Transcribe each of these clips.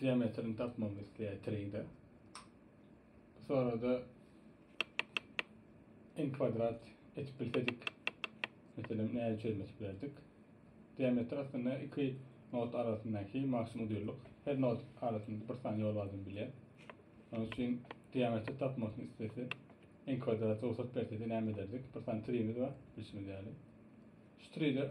Diametrini tapmagy isleýär 3 de. Bu sorada n kwadrat etip bilsedik, meselem nädip çözmesi bilerdik? Diametr aslynda iki not arasyndaky maksimum dürlük. Her not arasynda bir sany ýol bardygyny bilýär. Onun üçin diametri tapmagyny istese, n kwadrat rugsat bersede näme ederdik? Bir sany trimiz bar, bilşimiz ýaly. Şu tride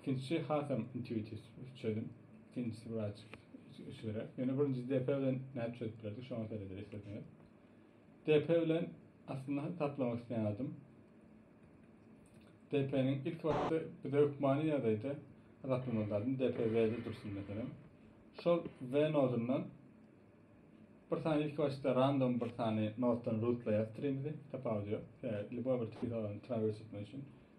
Ikinjisi hasam intuitiv çözüm. Ikinjisi biraz üsgüräk. Ýöne birinjisi DP bilen nädip çözüp bilerdik, şoňa seredeli isleseňiz. DP bilen aslynda taplamak isleýän adym DP-niň ilki wagtda bize hökmany ýagdaýda azaplamaly zadym DP W-de dursun meselem. Şol W nodundan bir sany ilki başda random bir sany noddan rootlaýar streamimizi, tapawudy ýok. Ýa lýuboý bir tiki zalany trawerse etmek üçin.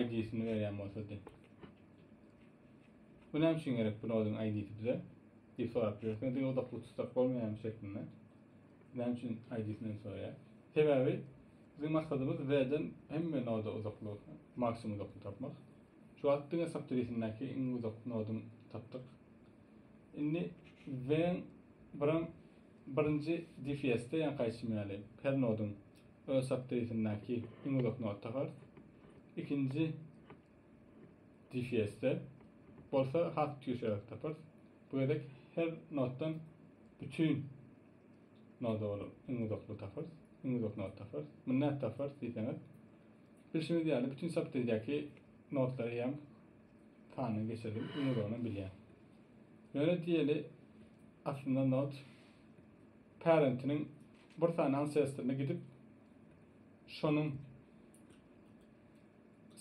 ID'sini berýän bolsa diýip. Bu näme üçin gerek bu noduň ID'si bize? diýip sorap bilersiň. Diňe uzaklyk tutsak bolmaýarmy şeklinde. Näme üçin ID'sini soraýar? Sebäbi biziň maksadymyz V-den hemme noda uzaklygy, maksimum uzaklygy tapmak. Şu wagt diňe subtree-sindäki iň uzak noduň tapdyk. Indi V-iň biram birinji DFS-de ýa-da kaýsym ýaly her noduň Öz sapdyýsindäki iň uzak nota gars, ikinji difýezde bolsa has ýüksegräk taparys. Bu gezek her notdan bütin noda bolup iň uzaklygy taparys, iň uzak noty taparys. Muny nädip taparys diýseňiz, bilşimiz ýaly, bütin sapdyýdäki notlary hem sandan geçirdim, iň uzagynam bilýän. Ýöne diýeli, aslynda not. parentiniň bir sany ansestrine gidip, şonuň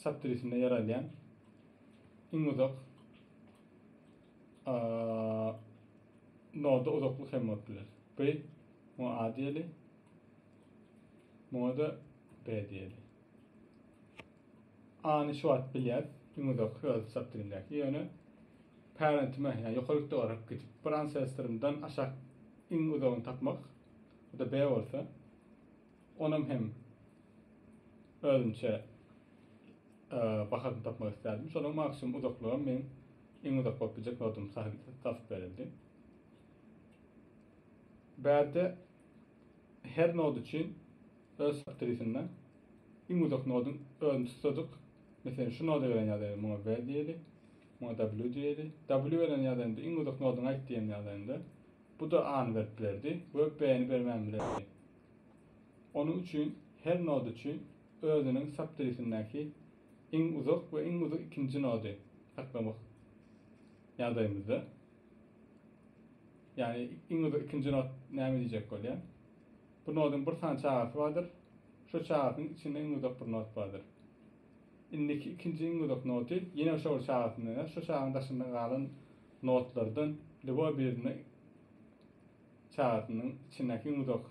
saptirisinde ýer alýan iň uzak noda uzaklyk hem bolup biler. B, muňa A diýeli, muňa-da B diýeli. Any şu wagt bilýäs, iň uzak öz çykdygyndaky, ýöne parentime, ýa ýokary ýurtda garyp gidip, bir ansestrymdan aşak iň uzagyny tapmak, o da B bolsa, onuň hem özümçe bahasyny tapmak isterdim. Şonuň maksimum uzaklygam meň iň uzak bolup biljek nodum tapyp berildi. Bärde her nod üçin Öz faktorisinde iň uzak nodyň özüni tutsadyk, meselem şu noda gelen ýagdaýda muňa B diýeli, muňa W diýeli. W gelen ýagdaýynda iň uzak nodyňy aýt diýen ýagdaýynda bu-da A-ny berip bilerdi we B-ni bermän bilerdi. Onuň üçin her nod üçin özüniň saptorisindäki iň uzak we iň uzak ikinji nody saklamak ýagdaýymyzda, ýagny iň uzak ikinji nod näme diýjek bolýar? Bu nodyň bir sany çagasy bardyr. Şo çagasynyň içinde iň uzak bir not bardyr. Indiki ikinji iň uzak noty ýene şo bir çagasyndan ýa şo çagaň daşynda galan notlardan lýuboý birinde çagasynyň içindäki iň uzak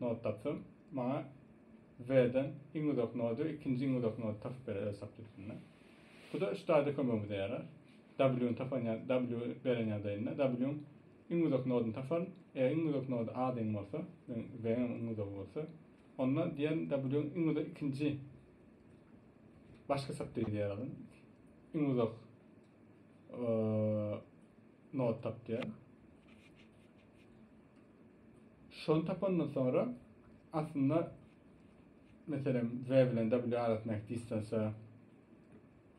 not tapsam, maňa W-den iň uzak nody we ikinji iň uzak nody tapyp berer öz tablisinden. Bu-da üç taýda kömegimize ýarar. W-ny tapan ýa W beren ýagdaýynda W-nyň Iň uzak noduny taparyn. Eger iň uzak nody A deň bolsa, deň Z-niň iň uzagy bolsa, onda diýerin W-iň iň uzak ikinji başga sapdiri diýer adam. Iň uzak nod tap diýer. Şony tapandan sonra aslında meselem Z bilen W arasyndaky distansiýa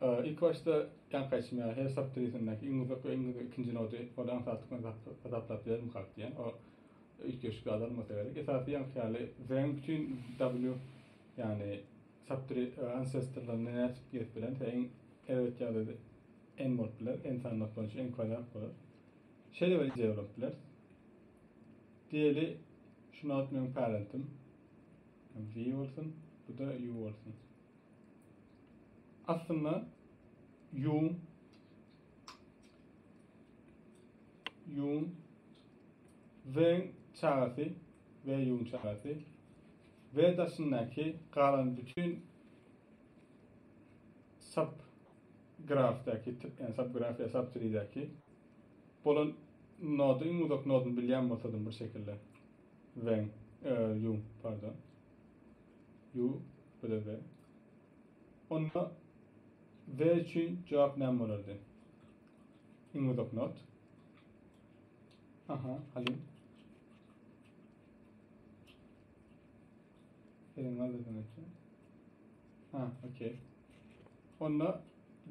Ilkibaşda ýaňky aýtşyma, her sap dirisindeäki iň uzak we iň uzak ikinji nody ol aňsatlyk bilen hasaplap bilermikak diýen o üýtgeşikli azalmasa gerek. Esasy ýaňky ýaly Zeng bütin W ýagny sap diri ansestrlaryny nädip gezip bilemse iň erbet ýagdaýda N bolup biler, N sanlylk boýunça N kwadrat bolar. Şeýle bir ideýa ulanyp bileris. Diýeli şu nod meniň parentim. V bolsun, bu-da U bolsun. Aslynda Ýun Ýun Weng çagasy we Ýun çagasy we daşyndaky galan bütin sub grafdaky tip ýa sub graf ýa sub treedaky bolan nodu iň uzak noduny bilýän bolsadym bir şekilde Weng e, Ýun pardon Ýu, bile-bile. Onda we üçin jogap näme bolardy? Iň uzak not. Aha, Halim. Eliň aldydan öte. Ha, okey. Onda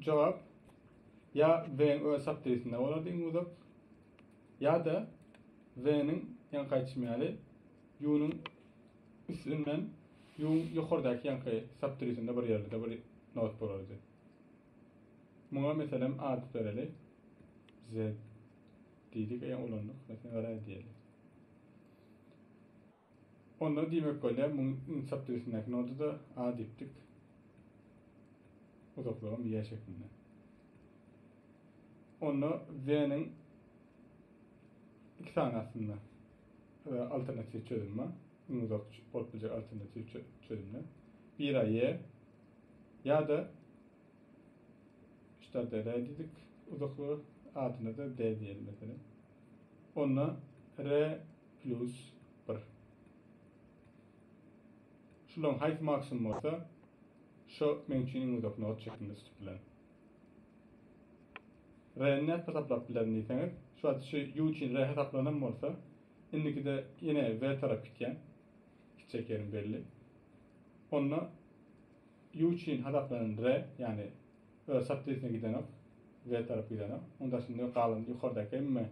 jogap ya V'nin öz saptayısında olardı iň uzak ya da V'nin yan kaçmayalı Ýüňüň üstünden ýüňüň ýokardaky ýaňky sapdürisinde bir ýerde-de bir not bolardy. Muňa meselem at bereli. Z diýdik, e ulandyk, meselem R diýeli. Onda diýmek bolýar, muň iň sapdürisindäki noda-da A diýipdik. Uzaklygam Y şeklinde. Onda Z-niň iki sany aslynda. Alternatiw çözümä, iň uzak bolup biljek alternatiw çözümine bir aý ýe ýa-da ştata re diýdik uzaklygy, adyna-da de diýeli meselem. Onda re plus bir. Şularyň haýsy maksimum bolsa, şo meň üçin iň uzak not şeklinde tutupbilerin. Re-ni nädip hasaplap bilerin diýseňiz, şu wagt şu ýu üçin re hasaplanam bolsa, indikide ýene we tarap gitýän, gitjek ýerim belli. Onda ýu üçin hasaplanan re, ýagny öz şatlysine gidenok, we tarap gidenok. Onuň daşynda galan ýokardaky hemme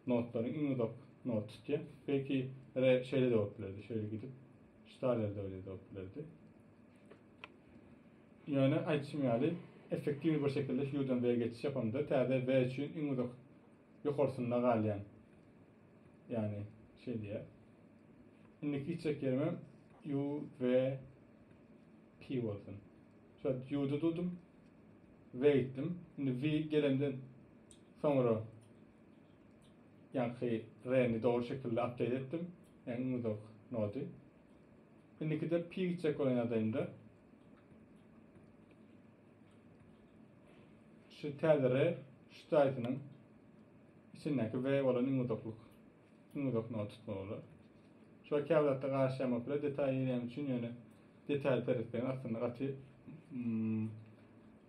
notlaryň iň uzak noty tutýar. Belki re şeýle-de bolup bilerdi, şeýle gidip, şu taýlarda bile bolup bilerdi. Ýöne, aýdyşym ýaly, effektiwny bir şekilde HUE-dan V-e geçiş ýapamda, täze V üçin iň uzak ýokarsynda galýan. Ýagny, şeý diýýär. Indiki gitjek ýerimem UVP bolsun. Şu U-da durdum. V gitdim. Indi V gelemden soňra ýaňky R-ni dogry şekilde update etdim. Ýagny iň uzak nody. Indikide pi gitjek bolan ýagdaýynda şu täze re şu taýsynyň içindäki we bolan iň uzaklyk iň uzak noga tutmaly bolar. Şular käbir zatda garyşýan bolup biler detaýy ýerýän üçin ýöne detaýy seretseňiz aslynda gaty mm,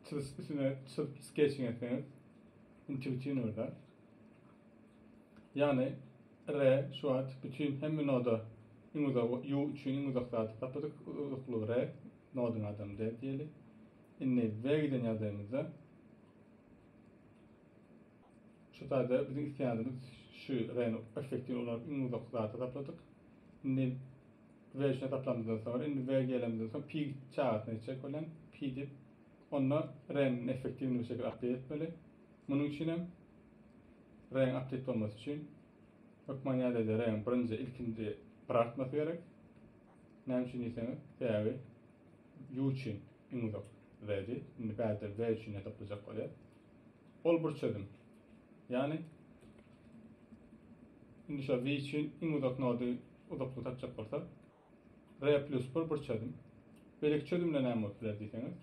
çyzyp üstüne çyzyp sketching etseňiz intuitiwnyý bir zat. Ýagny, re, şu wagt bütin hemme noda iň uzak, ýu üçin iň uzak zady tapdyk, uzaklygy re nodyň adamy de diýeli. Indi we giden ýagdaýymyzda şu taýda biziň isleýänimiz şu reni effektiwini ulanyp iň uzak zady tapladyk. Indi we üçin hasaplamyzdan soňra, indi we gelenimizden soň pi çagasyna geçjek bolýan, pi diýip, onda reniň effektiwini bu şekilde update etmeli. Munuň üçin hem reňk aktiw bolmasy üçin hökman ýadede reňk birinji ilkinji gyrartmasy gerek. Näme üçin diýseňiz, sebäbi U üçin iň uzak Redi, indi bärde V üçin hesaplajak bolýar. Ol bir çözüm. Ýagny indi şo V üçin iň uzak nody uzaklygy tapjak bolsa, R plus bir bir çözüm. Beýleki çözümde näme bolup biler diýseňiz,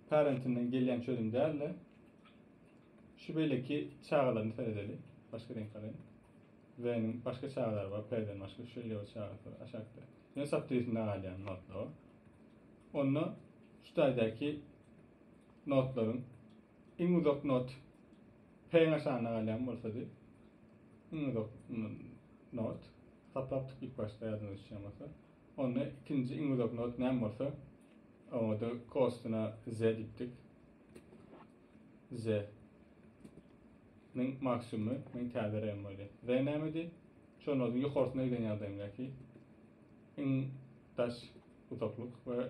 parentinden gelýän çözüm däl-de, şu beýleki çagalaryny seredeli. Başga reňk alaýyn. V-niň başga çagalary bar, P-den başga şeýle bir çagasy bar aşakda. Ýöne çap dysynda galýan notlawa. Onda şu taýdaky notlaryň iň uzak not Peýňe şanda galýan bolsady iň uzak not saplapdyk ilk başda ýadyňyza düşýän bolsa. Onda ikinji iň uzak not näme bolsa oňada kostuna z diýipdik. Z nin maksimumy men täze rem bolýa. Z nämedi? Şo noduň ýokarsyna giden ýagdaýymdaky iň daş uzaklyk we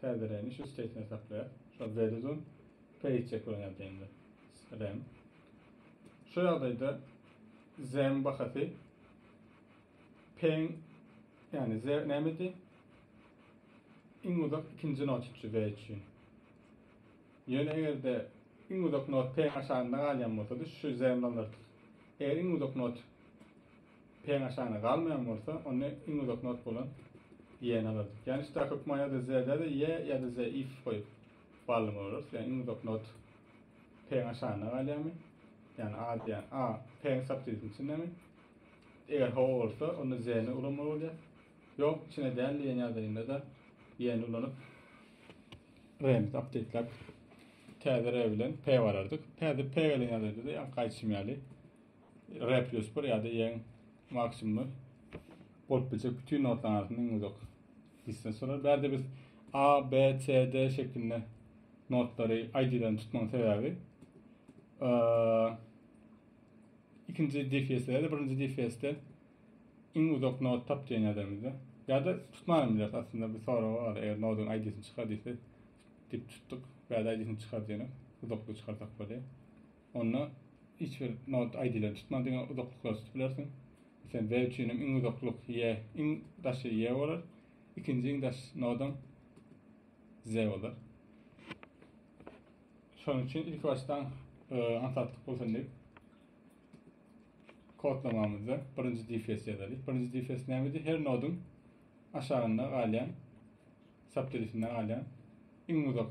Täzeräni şu skeýtine saklaýas. Şol Zedizun peýçek bilen ýazaýynda. Srem. Şu ýagdaýda Z-iň bahasy P-iň ýagny Z nämedi? Iň uzak ikinji not üçi Z üçin. Ýöne egerde iň uzak not P-iň aşagynda galýan bolsady, şu Z nolary tut. Eger iň uzak not Peňaşana galmaýan bolsa, onda iň uzak not bolan ýe-ni alardyk. Ýagny şda köp ma ýa-da z-dä-de ýe ýa-da z if goýup bally bolarys. Ýagny iň uzak not peňaşana galýarmy? Ýagny a diýýän a peň subtitini içindemi? Eger hawa bolsa, onda z-ni ulanmaly bolýar. Ýok, içine däl diýen ýagdaýynda-da ýe-ni ulanyp r-ni subtitläp täze r bilen p barardyk. Häzir p gelen ýagdaýda-da ýa gaýçym ýaly. re plus bir ya da yeň maksimumi bolup biljek bütün notlaryň arasynda iň uzak distans bolar. Bärde biz A, B, C, D şeklinde notlary ID-den tutmaň sebäbi ikinci DFS-de de birinci DFS-de iň uzak not tap diýen ýadamyzda. Ya da tutmaýan biler aslında bir soru bar. Eger noduň ID-sini çykar diýse, dip tutduk. Bärde ID-sini çykar diýenek. Uzaklygy çykarsak bolýar. Onda hiç bir not aýdylan tutman diňe uzaklyklar tutup bilersiň. Meselem, B üçinem iň uzaklyk Y, iň daşy Y bolar. Ikinji iň daş nodam Z bolar. Şonuň üçin ilki başdan e, aňsatlyk bolsun diýip kodlamamyzda birinji difes ýazalyk. Birinji difes nämedi? Her noduň aşagynda galýan, sapterisinde galýan iň uzak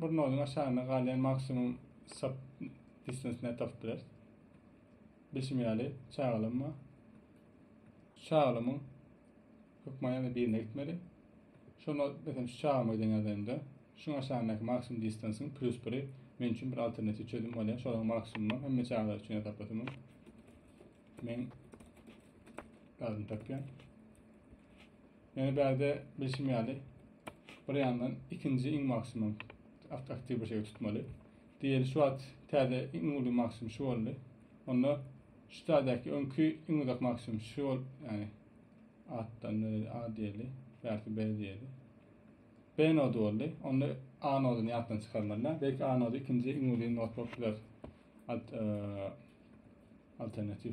Bir noduň aşagynda galýan maksimum sub distance ne tapyp bileris. Bilşim ýaly çagalam bar. Çagalamyň hökman ýa-da birine gitmeli. Şonda mesela şu çagama giden ýagdaýymda şuň aşagyndaky maksimum distansyň plus biri men üçin bir alternatiw çözüm bolýar. Şolaryň maksimumam hemme çagalar üçin ýasaplasamam men lazym tapýan. Ýöne bärde bilşim ýaly, bir ýandan ikinji iň maksimum aktiw bir şeýle tutmaly. Diýeli şu wagt täze iň uly maksimum şu boldy. Onda şu täzäki öňki iň uzak maksimum şu bol, ýani atdan beri A diýeli, bärki B diýeli. B nody boldy. Onda A nodyny ýatdan çykarmalylar. Belki A nody ikinji iň uly not bolup biler. Alt, e, alternatiw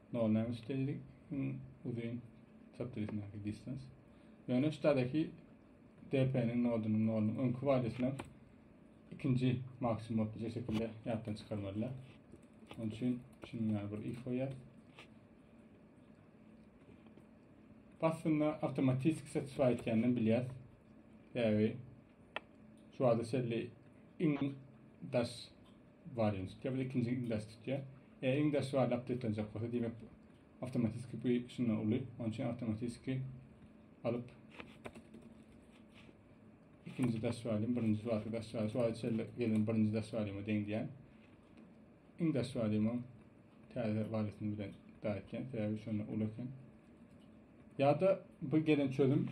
Nol näme üçin teýli iň uzyn çap dizisindäki distans? Ýöne ştadaky DP-niň nodunyň nolunyň öňki wadysyna ikinji maksimum bolup biljek şekilde ýatdan çykarmalylar. Onun üçin şunuň ýaly bir if goýýar. Aslynda awtomatiki satisfy etýänden bilýär. Sebäbi şu wada şelli iň daş bar ýene tutýar bir ikinji ildaş tutýar e iň daş bar lap deplenjek bolsa diýmek awtomatiski bu şundan uly onuň üçin awtomatiski alyp ikinji daş bar diýen birinji barky daş bar şu wagt içerli gelen birinji daş bar diýen deň diýen iň daş bar diýen täze barysini bilen daýtýan sebäbi şundan uly eken Ýa-da bu gelen çözüm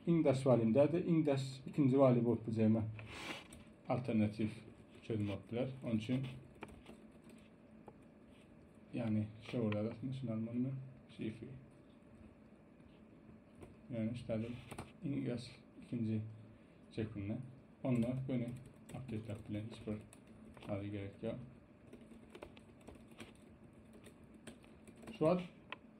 iň daş walim däl-de, iň daş ikinji wali bolup biljegime alternatiw çözüm bolup biler. Onuň üçin ýagny şu ýerde ýazasyň, şuny almaly men. Şifre. Ýagny şu ýerde iň daş ikinji çekinde. Onda göni update-läp bilen hiç bir hali gerek ýok. Şu wagt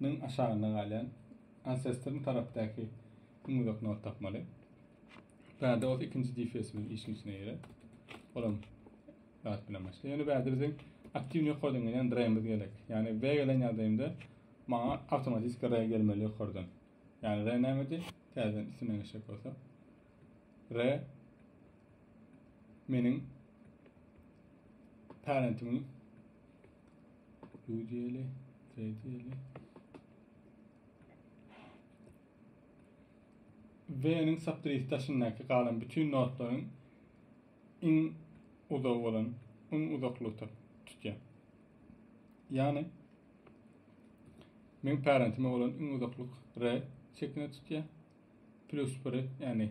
Nyň aşagynda galýan Ancestorn tarapdaky iň uzak nod tapmaly. Bärde bolsa ikinji DFS-imiz işiň içine girer. Olam zat bilen başlaýar. Ýöne bärde biziň aktiw ýokardan gelen dreýimiz gerek. Ýagny we gelen ýagdaýymda maňa awtomatiki re gelmeli ýokardan. Ýagny re nämedi? Täzeden üstünden geçjek bolsa. Re meniň parentimiň Duýdy eli, treýdi eli. V-niň saptrisi daşyndaky galan bütün notlaryň iň uzagy bolan, iň uzaklygy tutýan. Ýagny men parentime bolan iň uzaklyk R şeklinde tutýan. Plus 1, ýagny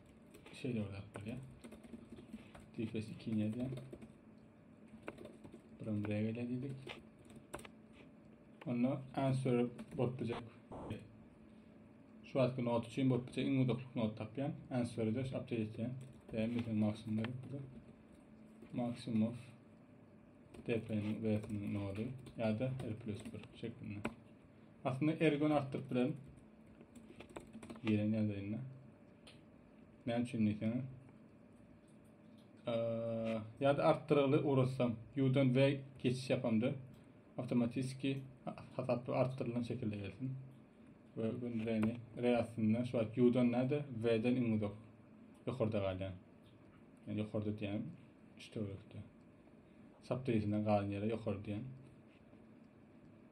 Şeýle bir zat bolýar. Difes 2 ne diýen? Buram regele diýdik. Onda answer bolup biljek. Şu wagtky not üçin bolup biljek iň uzaklyk not tapýan. Answer de şu update etýän. Ve mesela maksimum berip bu da. Maksimum of DP'nin V'sinin nodu ya da R plus 1 şeklinde. Aslynda er gün artdyryp bilerin. Gelen ýagdaýynda. Näme üçin diýseňiz? Ýa-da artdyrygly uratsam, U-dan V geçiş ýapamda awtomatiki hasapda artdyrylan şekilde gelsin. Ve gün V-ni R aslynda şu wagt U-dan näde, V-den iň uzak ýokarda galýar. Yani ýokarda diýýän üç töwerekde. Saptaýysyna galan ýere ýokary diýýän.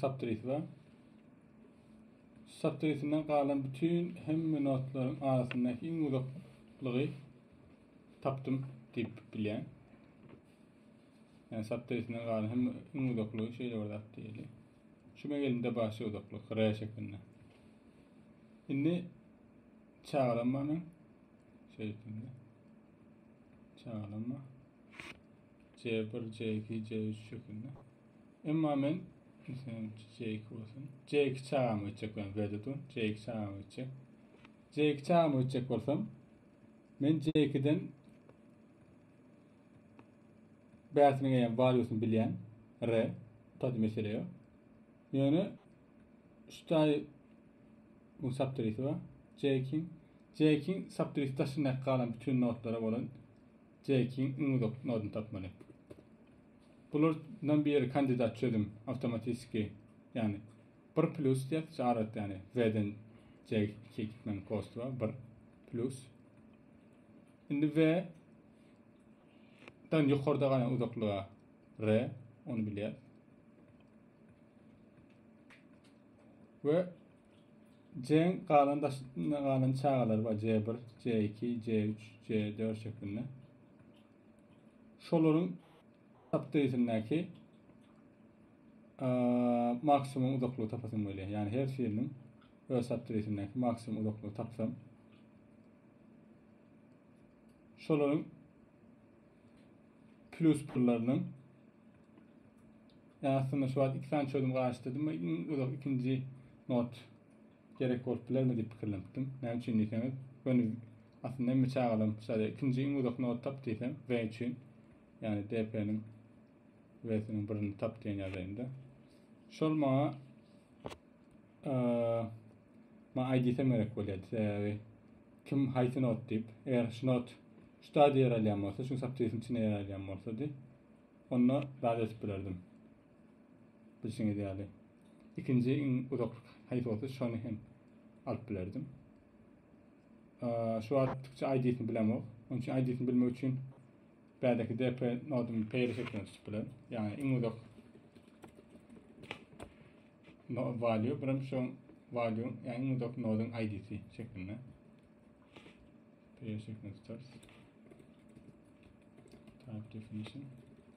Subtrit we subtritinden galan bütün hemme notlaryň arasyndaky iň uzaklygy tapdym diýip bilýän. Yani subtritinden galan hem iň uzaklygy şeýle bir zat diýeli. Şu megelinde başy uzaklyk R şeklinde. Indi çagalanma men şeýtinde. Çagalanma C1, C2, C3 şeklinde. Emma men islenim Jeýk bolsun. Jeýk çagam ötjek bilen Wedutun. Jeýk çagam ötjek. Jeýk çagam ötjek bolsam, men Jeýkiden bäsini geýen Valyusyny bilýän. Re, taýda mesele ýok. Ýöne şu taý bu saptrisi bar. Jeýkin. Jeýkin saptrisi daşyndaky galan bütün notlara bolan Jeýkin iň uzak noduny tapmaly. Bular dan biri kandidat çözüm awtomatiski yani bir plus diýip çagyrat yani we den je iki gitmeň kostuwa bir plus indi we dan yukarda galan uzaklyga re onu bilýär we jeň galan daşyna galan çagalar var c bir c iki c üç c dört şeklinde Şolaryň apdesindäki maksimum uzaklygy tapasym gelýär. Ýani her şiriniň öz apdesindäki maksimum uzaklygy tapsam. Şolaryň plus birleriniň Ýa aslynda şu wagt iki sany çözüm garaşdyrdym we iň uzak ikinji not Gerek bolup bilermi diýip pikirlenipdim. Näme üçin diýseňiz, göni aslynda hemme çagalam şaýa ikinji iň uzak not tap diýsem, we üçin, ýagny DP-niň we-siniň birini tap diýen ýagdaýynda. Şol maňa maňa aýdysam gerek bolýardy, sebäbi kim haýsy not diýip, eger şu not şu taýda ýer alýan bolsa, şu saptýysyň içinde ýer alýan bolsady, onda zat edip bilerdim. Bilşiňiz ýaly, ikinji iň uzaklyk haýsy bolsa şony hem alyp bilerdim. Şu wagt Türkçe ID-sini bilemok. Onuň üçin ID-sini bilmek üçin bädeki DP nodumy peýle şekilde tutup bilerin. Ýagny iň uzak no value birim şu value ýagny iň uzak noduň ID-si şeklinde. Peýle şeklinde tutarys. Type definition.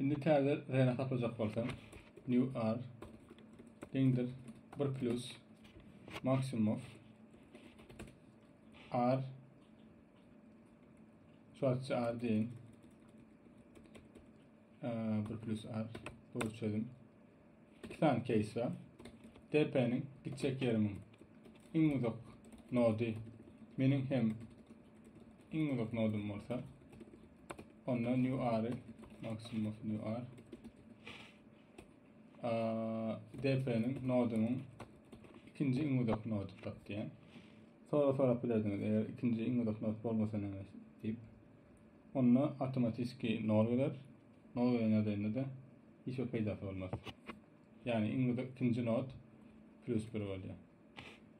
Indi täze räne saplajak bolsaň, new ar deňdir bir plus maksimum of ar şu açı ar deyin ee, bir plus ar doğru çözüm. iki sany keýs bar. DP-niň gitjek ýerimiň iň uzak nody meniň hem iň uzak nodum bolsa onda new r maksimum bolsa new r DP-niň nodumyň ikinji iň uzak nody tap diýen. Sonra sorap bilerdiňiz eger ikinji iň uzak nod bolmasa näme diýip. Onda awtomatiki nol geler. Node'e nädende-de hiç bir peýdasy bolmaz. Ýagny iň bir ikinji nod plus bir bolýar.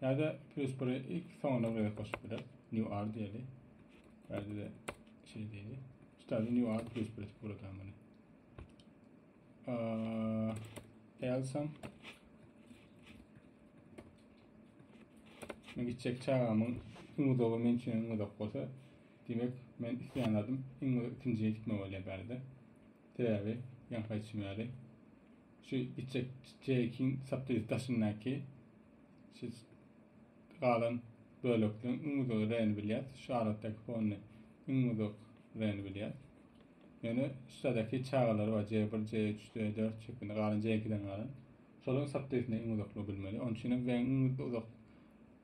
Ýa-da plus biri ilki soňuna bir gezek goşup bileris. New R diýeli. Bärde-de şey diýeli. Şu taýda new R plus bir edip guradan muny. Elsam Men gitjek çagamyň iň uzagy men üçin iň uzak bolsa, Diýmek, men isleýän zadym iň we ikinjije gitme bolýar bärde. Sebäbi, ýaňky aýdyşym ýaly, şu gitjek çeýekiň sapdyr daşyndaky şu galan bölekleň iň uzak reni bilýäs, şu arakdaky fonny iň uzak reni bilýäs. Ýöne şuradaky çagalary bar, J1, J3, J4 şeklinde, galan J2-den galan. Şolaryň sapdyrsynda iň uzaklygy bilmeli. Onuň üçinem reň iň uzak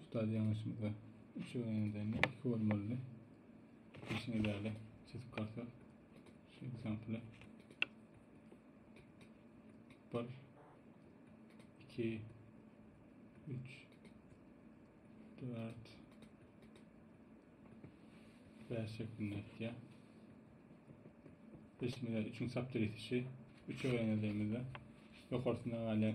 Ustad ýalňyşymyza üç öwrenenden iki bolmalydy. Geçen ýaly çizip barsak şu ekzempli bir iki üç dört beş şeklinde etýär. Biz şimdi üçün saptır etişi üç öwrenenimizde ýokarsynda galýan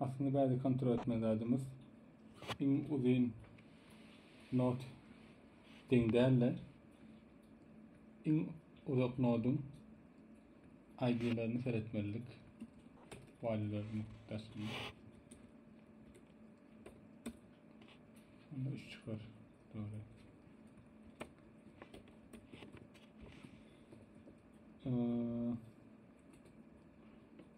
Aslynda bäde kontrol etmeli zadymyz iň uzyn not deň däl-de iň uzak noduň ID-lerini seretmelidik. Valýularyny daşyny. Onda üç çykar. Dogry. Ee,